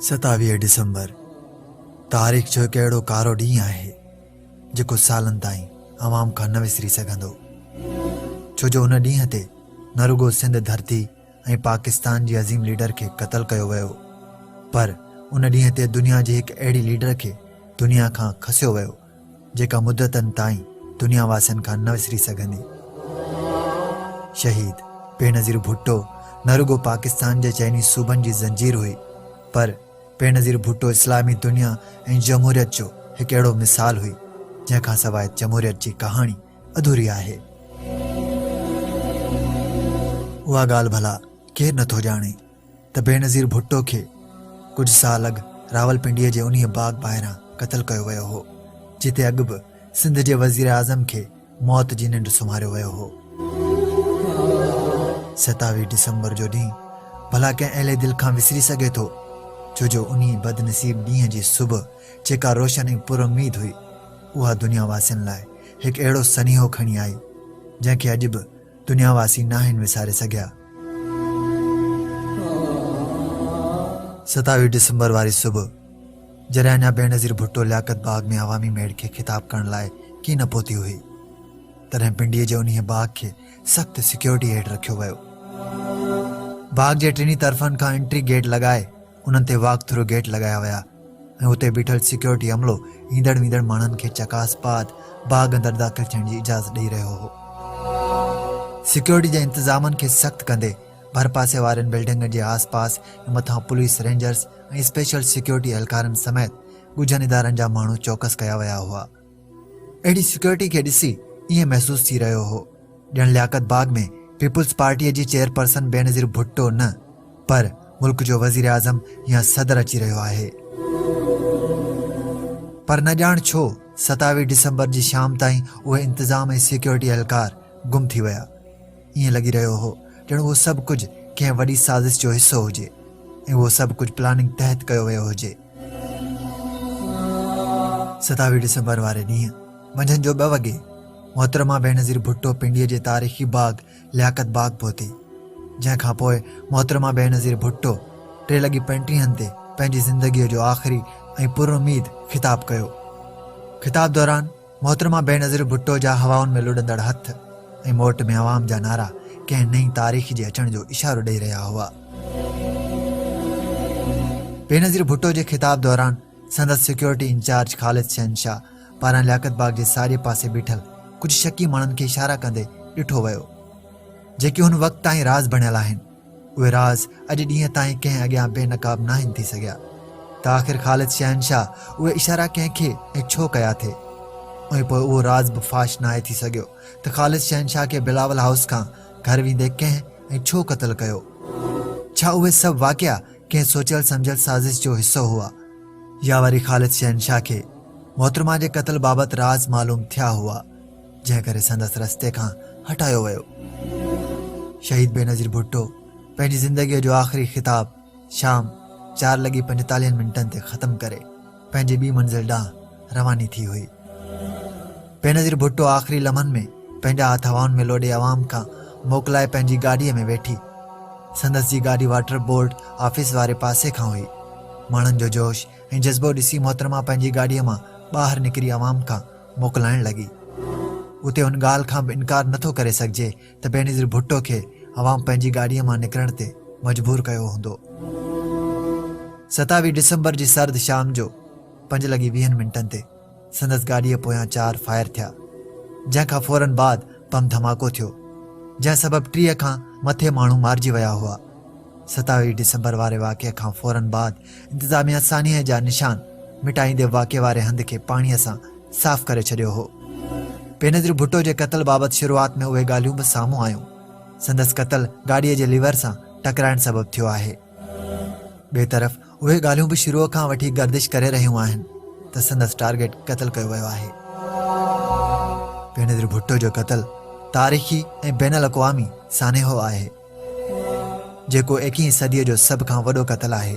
ستاويهه ڊسمبر تاريخ جو هڪ اهڙو ڪارو ڏينهن آهي جيڪو سالن تائين عوام کان نه وسري سگهندو ڇو جو ان ڏينهن تي نه رڳو سنڌ ڌرتي ۽ پاڪستان جي عظيم ليڊر کي قتل ڪيو ويو پر ان ڏينهن تي دنيا جي هڪ اهڙي ليڊر کي دنيا کان کسيو ويو جيڪا مدتن تائين دنيا واسين کان نه وسري سگهندي شهيد بينظير ڀٽو نه رڳو پاڪستان جي چئني صوبن جي زنجير هئي پر بينظير ڀٽو اسلامي دنيا ۽ جمهوريت جو هڪ اهڙو مثال هئي جنهن کان سواء جمهوريت جي ڪهاڻي اڌوري آهي. اها ڳالهه ڀلا ڪير نه ٿو ڄاڻي ته بينظير ڀٽو کي ڪجهه سال اڳ راولپنڊيء جي انهيء باغ ٻاهران قتل ڪيو ويو هو، جتي اڳ به سنڌ جي وزيراعظم کي موت جي ننڊ سمهاريو ويو هو. ستاويهه ڊسمبر جو ڏينهن ڀلا ڪنهن اهلي دل کان وسري سگهي ٿو، ڇو جو انهيء بدنصيب ڏينهن جي صبح جيڪا روشن ۽ پر اميد هئي، اها دنيا واسين لاء هڪ اهڙو سنيهو کڻي آئي، جنهن کي اڄ به دنيا واسي ناهن وساري سگهيا. ستاويهه ڊسمبر واري صبح، جڏهن اڃا بينظير ڀٽو لياقت باغ ۾ عوامي ميڙ کي خطاب ڪرڻ لاء ڪي نه پهتي هئي، تڏهن پنڊيء جي انهيء باغ کي سخت سيڪيورٽيء هيٺ رکيو ويو. باغ جي ٽنهي طرفن کان انٽري گيٽ لڳائي، انهن تي واڪ ٿرو گيٽ لڳايا ويا ۽ اتي بيٺل سيڪيورٽي عملو ايندڙ ويندڙ ماڻهن کي چڪاس بعد باغ اندر داخل ٿيڻ جي اجازت ڏئي رهيو هو. سيڪيورٽي جي انتظامن کي سخت ڪندي ڀرپاسي وارين بلڊنگن جي آس پاس ۽ مٿان پوليس رينجرز ۽ اسپيشل سيڪيورٽي اهلڪارن سميت ڳجهن ادارن جا ماڻهو چوڪس ڪيا ويا هئا. اهڙي سيڪيورٽي کي ڏسي ائين محسوس ٿي رهيو هو ڄڻ لياقت باغ ۾ پيپلز پارٽيء جي چيئرپرسن بينظير ڀٽو نه پر ملڪ جو وزير اعظم يا صدر اچي رهيو آهي پر نه ڄاڻ ڇو ستاويهه ڊسمبر جي شام تائين اهي انتظام ۽ سيڪيورٽي اهلڪار گم ٿي ويا ائين لڳي رهيو هو ڄڻ اهو سڀ ڪجهه ڪنهن وڏي سازش جو حصو هجي ۽ اهو سڀ ڪجهه پلاننگ تحت ڪيو ويو هجي. ستاويهه ڊسمبر واري ڏينهن منجهند جو ٻه وڳي محترمه بينظير ڀٽو پنڊيء جي تاريخي باغ لياقت باغ پهتي، جنهن کان پوء محترمه بينظير ڀٽو ٽي لڳي پنٽيهن تي پنهنجي زندگيء جو آخري ۽ پراميد خطاب ڪيو. خطاب دوران محترمه بينظير ڀٽو جا هوائن ۾ لڏندڙ هٿ ۽ موٽ ۾ عوام جا نعرا ڪنهن نئين تاريخ جي اچڻ جو اشارو ڏئي رهيا هئا. بينظير ڀٽو جي خطاب دوران سندس سيڪيورٽي انچارج خالد شهنشاهه پاران لياقت باغ جي ساڄي پاسي بيٺل ڪجهه شڪي ماڻهن کي اشارا ڪندي ڏٺو ويو جيڪي هن وقت تائين راز بڻيل آهن. اهي راز اڄ ڏينهن تائين ڪنهن اڳيان بي نقاب ناهن ٿي سگهيا ته آخر خالد شهنشاهه اهي اشارا ڪنهن کي ۽ ڇو ڪيا ٿي ۽ پوء اهو راز به فاش ناهي ٿي سگهيو ته خالد شهنشاهه کي بلاول هائوس کان گهر ويندي ڪنهن ۽ ڇو قتل ڪيو ڇا اهي سڀ واقعا ڪنهن سوچيل سمجھيل سازش جو حصو هئا يا وري خالد شهنشاهه کي محترمه جي قتل بابت راز معلوم ٿيا هئا جنهن ڪري سندس رستي کان هٽايو ويو. شهيد بينظير ڀٽو پنهنجي زندگيء جو آخري خطاب شام چار لڳي پنجيتاليهن منٽن تي ختم ڪري پنهنجي ٻي منزل ڏانهن رواني ٿي هئي. بينظير ڀٽو آخري لمحن ۾ پنهنجا هٿ هوائن ۾ لوڏي عوام کان موڪلائي پنهنجي گاڏيء ۾ ويٺي. سندس جي گاڏي واٽر بورڊ آفيس واري پاسي کان هئي. ماڻهن جو جوش ۽ جذبو ڏسي محترمه پنهنجي گاڏيء مان ٻاهر نڪري عوام کان موڪلائڻ لڳي. اتي ان ڳالهه کان به انڪار نه ٿو ڪري سگهجي ته بينظير ڀٽو کي عوام پنهنجي گاڏيء مان نڪرڻ تي مجبور ڪيو هوندو. ستاويهه ڊسمبر جي سرد شام جو پنج لڳي ويهن منٽن تي سندس گاڏيء پويان چار فائر ٿيا، جنهن کان فورن بعد بم ڌماڪو ٿيو، جنهن سبب ٽيهه کان مٿي ماڻهو مارجي ويا هئا. ستاويهه ڊسمبر واري واقعي کان فورن بعد انتظاميا سانحي جا نشان مٽائيندي واقعي واري هنڌ کي پاڻي سان صاف ڪري ڇڏيو هو بينظير ڀٽو جي قتل بابت شروعات ۾ اهي ڳالهيون به سامهون آيون سندس قتل گاڏيء جي ليور سان ٽڪرائڻ سبب ٿيو آهي ٻئي طرف اهي ڳالهيون به شروع کان وٺي گردش ڪري رهيون آهن ته سندس ٽارگيٽ قتل ڪيو ويو آهي بينظير ڀٽو جو قتل تاريخي ۽ بين الاقوامي سانحو آهي جيڪو ايڪيهين صديء جو سڀ کان وڏو قتل آهي.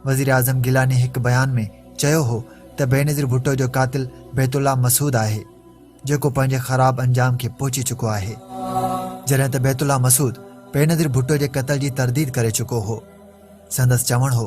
وزيراعظم گيلاني هڪ بيان ۾ چيو هو ته بينظير ڀٽو جو قاتل بيت الله مسعود آهي، جيڪو پنهنجي خراب انجام کي پهچي چڪو آهي. جڏهن ته بيت الله مسعود بينظير ڀٽو جي قتل جي ترديد ڪري چڪو هو. سندس چوڻ هو.